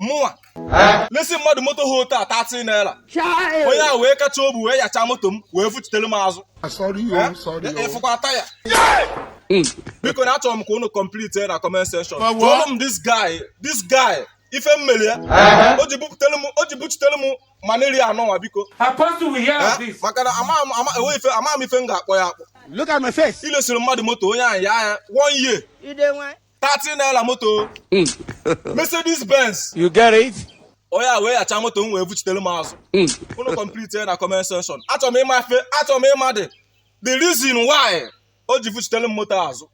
mụnwa lesi mmadụ moto ha otu a 30 naira onye ahụ wee kacha obu wee yacha moto m wee vuchitere m azụ ịfụkwa ah, oh, oh. taya hmm. biko na achọrọ m ka unu complete na comment section jụọrụ m this guy this guy ife m mere ya o ji buchitere m maneri anọ nwa biko eh? maka na amaghị m ife m ga-akpọ ya akpọ i lesiri mmadụ moto onye ahụ yaa ya one year 30 naira moto hmm. Mercedes Benz you get it onye a wee yacha moto m wee vuchitere m azụ hmm. unu complete na comment section achọrọ m ịma ife achọrọ m ịma the the reason why o ji vuchitere m moto azụ